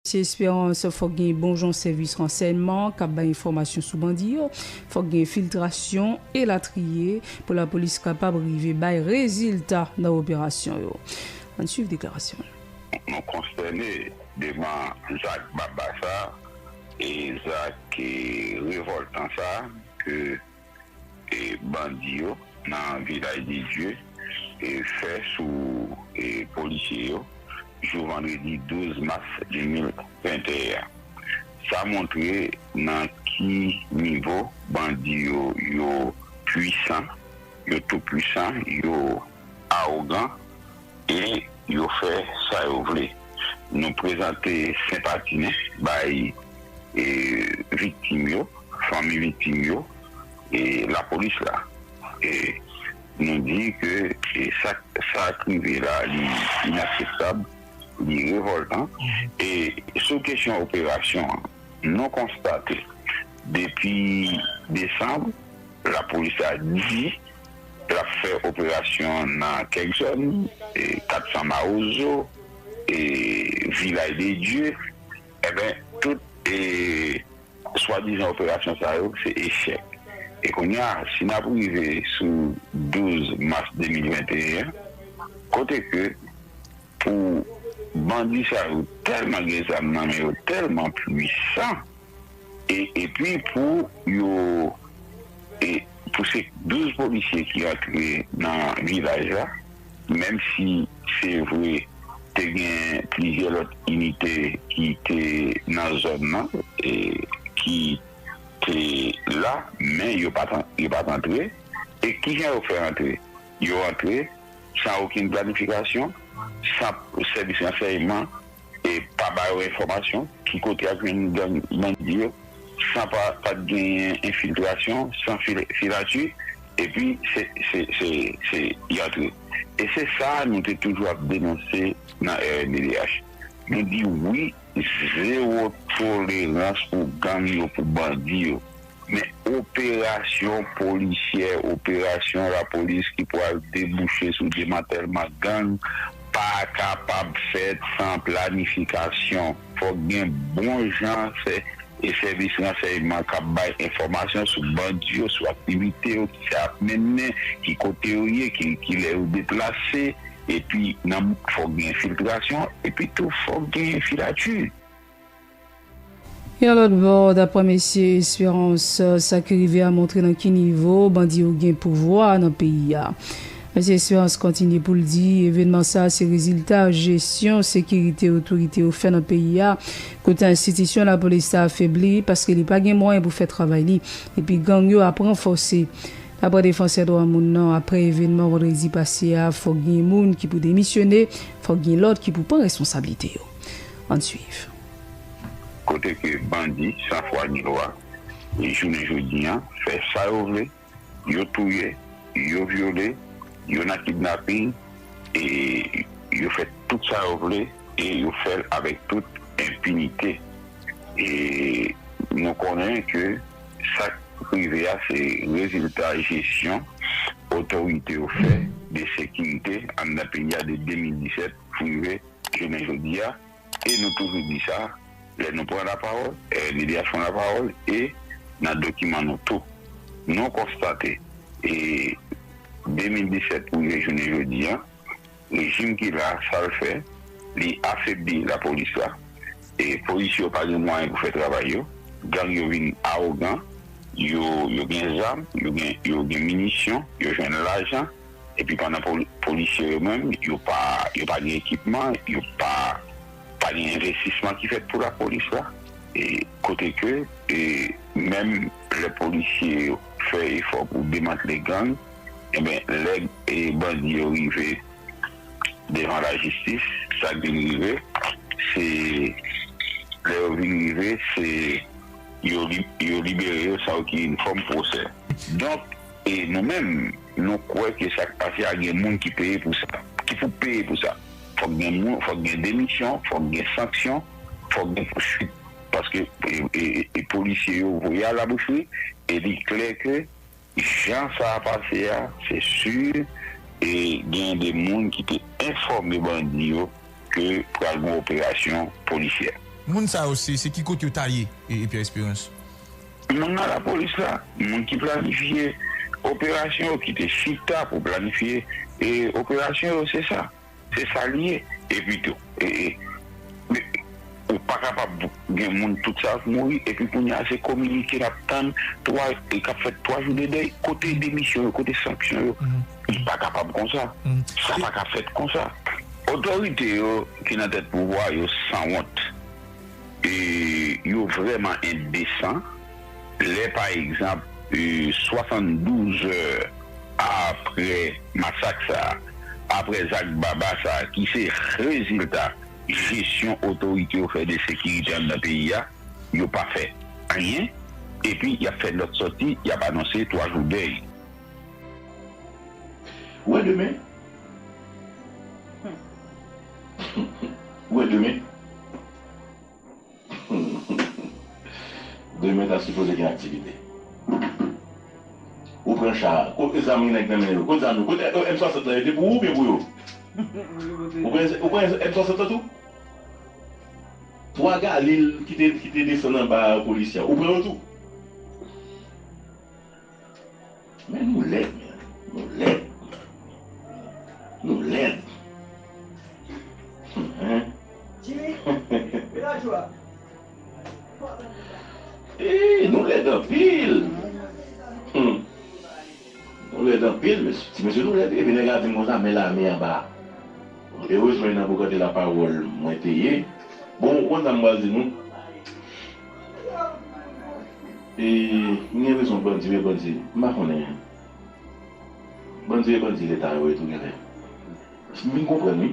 Ti Esperance, Fòk gen bon jan sèvis ransèyman k ap bay enfòmasyon sou bandi yo, fòk gen enfiltrasyon, elatriye, pou lapolis kapab rive bay rezilta nan operasyon yo. Ann suiv deklarasyon l. Nou konstène devan zak baba sa e zak revòltan sa ke. bandi yo nan Vilaj de Dye fè sou polisye yo jou vandredi 12 mas 2021 an. Sa montre nan ki nivo bandi yo yo pwisan, yo tou pwisan, yo awogan. e yo fè sa yo vle. Nou prezante senpati nou bay viktim yo, fanmi viktim yo e lapolis la. Nou di ke sa k rive la li inakseptab, li revòltan. E sou kesyon operasyon an, nou konstate depi desanm lapolis la di. L ap fè operasyon nan kèk zòn, 400 Mawozo, Vilay de Dye, enben tout swadizan operasyon sa yo se echèk. E kounye a, si n ap rive sou 12 mas 2021, kote ke pou bandi sa yo tèlman gen zam nan men yo, tèlman pwisan, epi pou yo. Pou se 12 polisye ki rantre nan vilaj la, menm si se vre te gen plizyè lòt inite ki te nan zòn nan ki te la, men yo pa t antre. E ki jan yo fè antre? Yo antre san okenn planifikasyon, san sèvis ransèyman e pa ba yo enfòmasyon, ki kote y ap jwenn gang bandi yo, san pa t genyen enfiltrasyon, san filati, epi se y antre. E se sa a nou te toujou ap denonse nan rnddh. Nou di wi, zewo tolerans pou gang yo, pou bandi yo. Men operasyon polisyè, operasyon lapolis ki pwal debouche sou demantèlman gang pa kapab fèt san planifikasyon. Fòk gen bon jan sèvis ransèyman k ap bay enfòmasyon sou bandi yo, sou aktivite yo, ki sa y ap mennen, ki kote yo ye, ki lè yo deplase. Epi fòk gen enfiltrasyon, epi tou fòk gen filati. Yon lòt bò, daprè Mesye Espérance, sa ki rive a montre nan ki nivo bandi yo gen pouvwa nan peyi a. Mesye Espérance kontinye pou l di, evènman sa a se rezilta jesyon sekirite otorite yo fè nan peyi a, kote enstitisyon lapolis ta afebli paske li pa gen mwayen pou fè travay li, epi gang yo ap ranfòse. Daprè defansè dwa moun nan, aprè evènman vandredi pase a, fòk gen moun ki pou demisyone, fòk gen lòt ki pou pran responsablite yo. Ann swiv. Kote ke bandi san fwa ni lwa jounen jodi an fè sa yo vle, yo touye, yo vyole, yo nan kidnaping e yo fè tout sa yo vle e yo fèl avèk tout enpinite e nou konnen ke sak rive a se rezilta jesyon otorite yo fè de sekirite anndan peyi a de 2017 pou rive Jounen jodi a, e nou toujou di sa, lè nou pran lapawòl, Lilias pran lapawòl e nan dokiman nou tou, nou konstate e 2017 pou rive jounen jodi a, rejim ki la a, sa l fè, li afebli lapolis la, e polisye yo pa gen mwayen pou fè travay yo, gang yo vin awogan, yo gen zam, yo gen minisyon, yo jwenn lajan. epi pandan polisye yo menm yo pa yo pa gen ekipman yo pa pa gen envestisman ki fèt pou lapolis la e kote ke e menm lè polisye yo fè efò pou demantle gang enben lè e bandi yo rive devan lajistis sa k vin rive se lè yo vin rive se yo yo libere yo san okin fòm pwosè donk e nou menm. Nou kwè ke sa k pase a gen moun ki peye pou sa, ki pou peye pou sa. Fòk gen moun, fòk gen demisyon, fòk gen sanksyon, fòk gen pousuit. Paske polisye yo voye a la boucherie e li klè ke jan sa a pase a, se si gen de moun ki te enfòme bandi yo ke pral gen operasyon polisyè. Moun sa yo se ki kote yo ta ye, Pierre Espérance? Moun nan lapolis la, moun ki planifye operasyon yo, ki te chita pou planifye operasyon yo, se sa. Se sa li ye. Epi tou, ou pa kapab gen moun tout sa yo ki mouri, epi kounye a se kominike n ap tann, k ap fèt twa jou de dèy. Kote demisyon yo? Kote sanksyon yo? Li pa kapab kon sa. Sa pa ka fèt kon sa. Otorite yo ki nan tèt pouvwa yo sanwont. E yo vrèman endesan lè pa egzanp 72 zè apre masak sa, apre zak baba sa ki se rezilta jesyon otorite yo fè de sekirite anndan peyi a, yo pa fè anyen epi y ap fè lòt sòti y ap anonse 3 jou dèy. Wè demen! Ou e demen Demen ta sipoze gen aktivite Ou pran cha a Kot zam gen nèg nan men yo Kot zam yo Kot M 60 lan yo te pou ou oubyen pou yo Ou pran M 60 lan tou 3 galil ki te desann anba polisye a ou pran yo tou. Men nou lèd men nou lèd nou lèd eeyy nou lèd anpil nou lèd anpil mesye ti mesye nou lèd epi nèg la dim konsa men lame anba erezman e nan bogate la pawòl mwen te ye bon ou konn sa m pral di nou. E m gen rezon bandi e bandi m pa konnen bandi e bandi leta yo ye tou genlè m vin konprann wi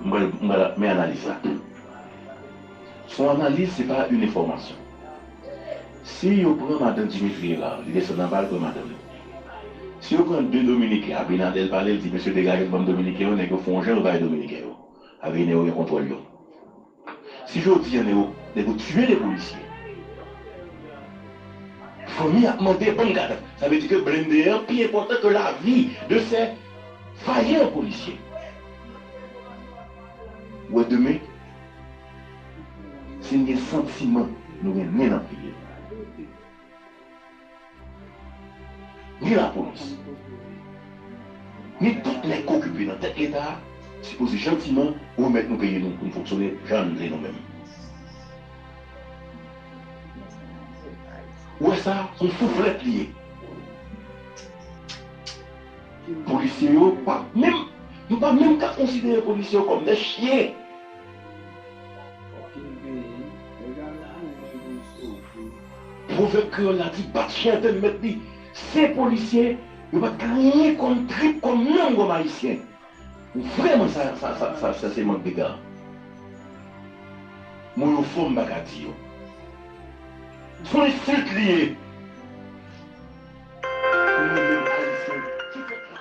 m pral m pral men analiz la s on analiz se pa yn enfòmasyon si yo pran madan Dimitri Herard li desann anba l pran madanm li si yo pran 2 dominiken Abinadèl pale l di mesye degaje n banm dominiken yo nèg yo fon jan yo bay dominiken yo Abine yo gen kontwòl yo. Si jodi an nèg yo tiye 2 polisye fanmi ap mande banm kad sa vle di ke blende an pi enpòtan ke lavi de sè vayan polisye ou wè demen si n gen santiman nou gen nen nan pye n. ni lapolis, ni tout nèg ki okipe nan tèt leta a sipoze jantiman remèt nou peyi nou pou n fonksyone jan n vle nou menm. Ou wè sa, s on souflèt li ye. Polisye yo pa menm, nou pa menm ka konsidere polisye yo kòm dè chyen. Pwovèb kreyòl la di bat chen tann mèt li. Sen polisye yo pa t ka anyen kòm trip, kòm nanm, kòm Ayisyen. Vrèman sa sa se mank dega. Mo yo fò m pa ka di yo. S on ensilt li ye pou nou menm Ayisyen ki fèt la.